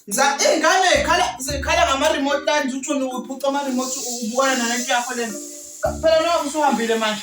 Mza ingane ikhala zikhala ngama remote lines uthuni uphuca ama remote ubukana nalento yakho lena. Phela nawe usuhambile manje.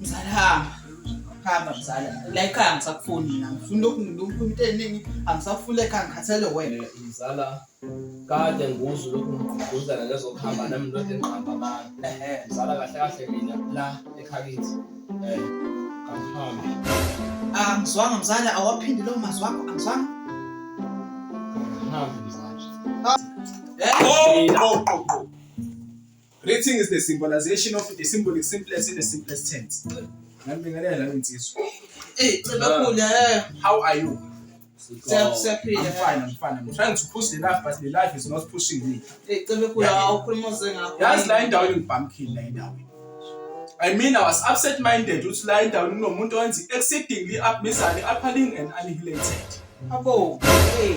Mzala hamba. Hamba mzala. La ekhaya ngisakufuni mina. Ngifuna ukungilumpha into eningi. Angisafuni ekhaya ngikhathele wena. Eh, Mzala kade nguzwe lokhu ngigqugquzela ngezokuhamba nami ndoda enqamba abantu. Ehhe. Mzala kahle kahle mina la ekhakithi. Eh. Kangihambi. Ah, ngizwanga mzala awaphindi lo mazwi wakho angizwanga. Kangihambi mzala. Eh? Oh, oh, oh, oh. Greeting is the symbolization of the symbolic simplest in the simplest tense. Ngambingelela insizwa. Eh, cebakhula. Eh. How are you? I'm fine, I'm fine. I'm trying to push the life, but the life is not pushing me. Eh, cebakhula awukhuluma ngakho. Yazi la indawo ingibhamkile la indawo. I mean, I was upset minded ukuthi la indawo kunomuntu owenza exceedingly up mizane appealing and annihilated. Abo, hey.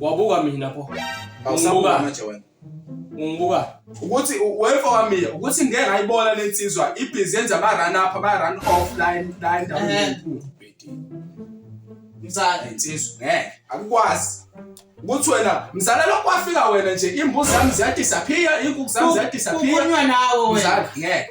Wabuka mina pho. Awusabuka manje wena. Ungibuka. Ukuthi wefa wami ukuthi ngeke ngayibona lensizwa ibhizi yenza ama run up ba run off line line down. Eh. Mzala insizwa ngeke akukwazi. ukuthi wena mzala lokho wafika wena nje imbuzi zami ziyadisappear inkukhu zami ziyadisappear kukhulunywa nawe wena mzala ngeke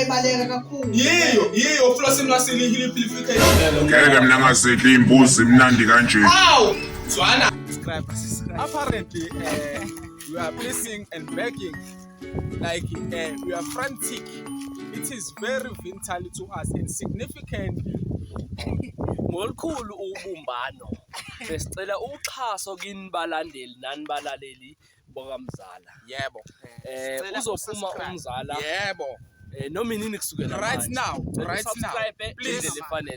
ebaleka kakhulu yiyo yiyo uflosi lwasile ihiliphilification ngeke mina ngazidla iy'mbuzi imnandi kanje awu zwana apparently uh, you are pissing and begging like uh, you are frantic it is very vital to us and significant ngolukhulu ubumbano besicela uxhaso kini balandeli nani balaleli bokamzala yebo eh Sicela uzophuma usubscribe. umzala yebo eh noma inini kusukela right manje. now Cela right now usubscribe please ngendlela efanele